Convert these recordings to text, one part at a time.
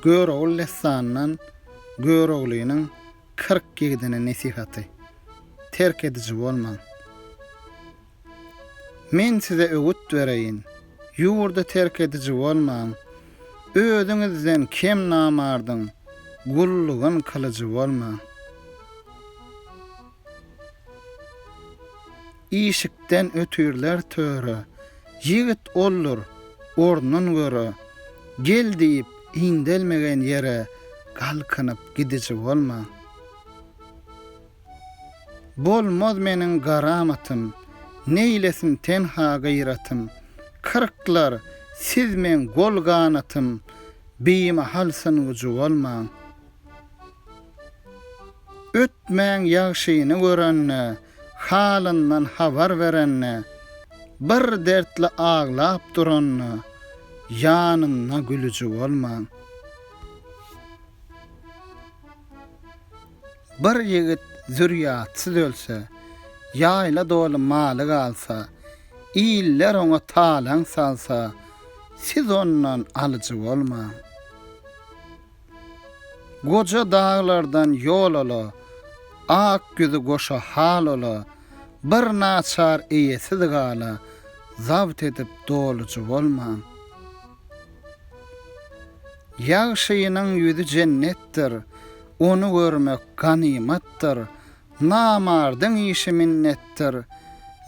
Görogly dessanyndan Göroglynyň kyrk ýigidine nesihaty. Terk ediji bolmaň. Men size öwüt bereýin, ýurdy terk ediji bolmaň, özüňizden kem namardyň gullugyn kylyjy bolmaň. Işikden ötürler töre. Ýigit oldur, ornun göre. Gel diýip, indelmegen ýere galkynyp gidiji bolma. Bolmaz meniň garamatym, neýlesin tenha gyratym. Kyrklar, siz meň gol-ganatym, bimahal syngyjy bolma. Ötmäň ýagşyny görende, Halyndan habar berende, Bir dertli aglap duranda, Ýanynda gülüji bolmaň. Bir ýigit zürýatsyz ölse, Ýaýla doly maly galsa, Iller oňa talaň salsa, Siz ondan alyjy bolmaň. Goja daglardan ýol ala, Ak güzi goşa hal ola, Bir naçar eýesiz gala, Zabt edip dolujy bolman. Ýagşynyň ýüzi jennetdir, Ony görmek ganymatdyr, Namardyň işi minnetdir,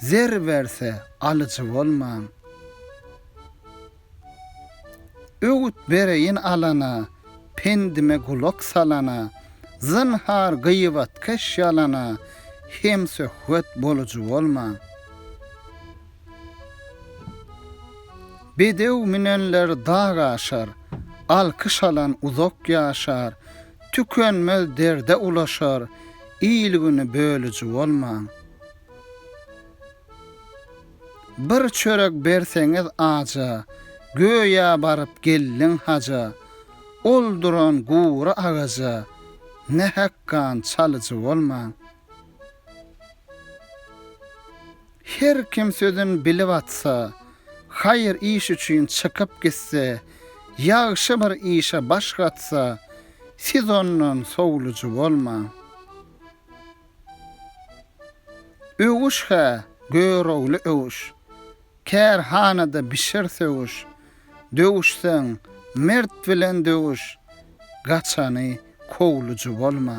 Zer berse, alyjy bolman. Öwüt bereýin alana, Pendime gulak salana, Zynhar gyýbatkeş ýalana Hemsöhbet bolujy bolma. Bedew münenler dag aşar, Alkyş alan uzak ýaşar, Tükenmez derde ulaşar, Il-güni bölüji bolma. Bir çörek berseňiz aja, Göýä baryp geldiň haja, Ol duran gury agaja, Ne hakgan çalyjy bolmaň. Her kim sözün bilip atsa, Haýyr iş üçin çykyp gitse, Ýagşy bir işe baş gatsa, Siz ondan sowluji bolmaň. Öwüş hä, görogly öwüş! Kärhanada bişer söwüş, Döwüşseň, mert bilen döwüş, Gaçany kowlujy bolma.